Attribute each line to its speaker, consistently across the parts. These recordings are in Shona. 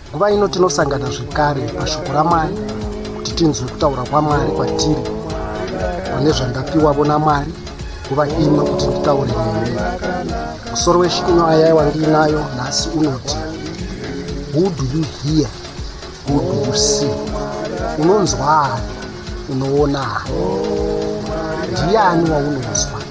Speaker 1: nguva ino tinosangana zvekare pashoko ramwari kuti tinzwe kutaura kwamwari kwatiri pane zvandapiwavo namwari nguva ino kuti nditaure nemi musoro weshinyo ayai wandiinayo nhasi unoti who do you hear who do you see unonzwaani unoonani ndiani waunonzwa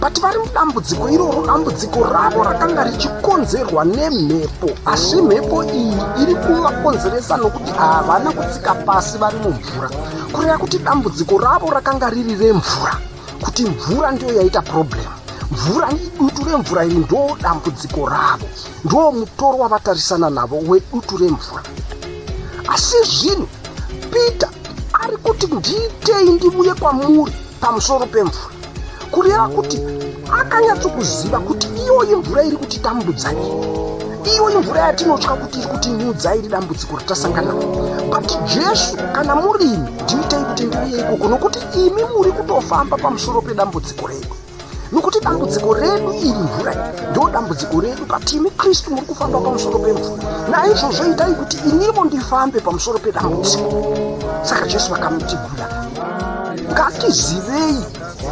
Speaker 1: but vari mudambudziko iroro dambudziko ravo rakanga richikonzerwa nemhepo asi mhepo iyi iri kuvakonzeresa nokuti havana kutsika pasi vari mumvura kureva kuti dambudziko ravo rakanga riri remvura kuti mvura ndiyo yaita problemu mvura idutu remvura iri ndoo dambudziko ravo ndoo mutoro wavatarisana navo wedutu remvura asi zvino peter ari kuti ndiitei ndivuye kwamuri pamusoro pemvura kureva kuti akanyatsokuziva kuti iyoyi mvura iri kuti tambudza nyika iyoyi mvura yatinotya kuti iri kuti nyudza iri dambudziko ratasangana but jesu kana murimi ndiitei kuti ndiuye ikoko nokuti imi muri kutofamba pamusoro pedambudziko redu nokuti dambudziko redu iri mvura iyi ndo dambudziko redu but imi kristu muri kufamba pamusoro pemvura naizvozvo itai kuti inimo ndifambe pamusoro pedambudziko saka jesu vakamutigura ngatizivei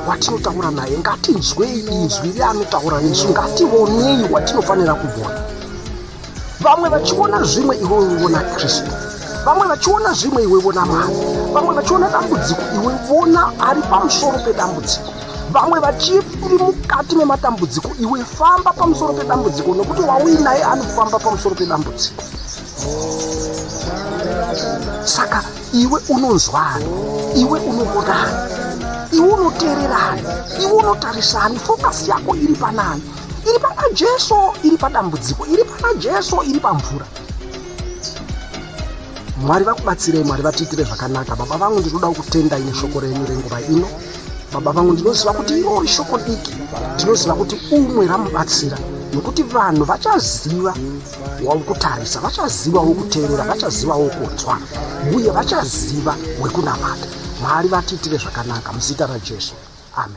Speaker 1: watinotaura naye ngatinzwei inzwi reanotaura nesu ngativonei watinofanira kuvona vamwe vachiona zvimwe iwe uona kristu vamwe vachiona zvimwe iwe vona mari vamwe vachiona dambudziko iwe vona ari pamusoro pedambudziko vamwe vachiri mukati mematambudziko iwe famba pamusoro pedambudziko nokuti wauinaye anofamba pamusoro pedambudziko saka iwe unonzwani iwe unomonani iwe unoteererani iwe unotarisani fokasi yako iri panani iri pana jesu iri padambudziko iri pana jesu iri pamvura mwari vakubatsirei mwari vatiitire zvakanaka baba vangu ndinoda kutenda ine shoko renyu renguva ino baba vangu ndinoziva kuti irori shoko diki ndinoziva kuti umwe ramubatsira nokuti vanhu vachaziva waukutarisa vachaziva wokuteerera vachaziva wokunzwa uye vachaziva wekunamata mwari vatiitire zvakanaka muzita rajesu amen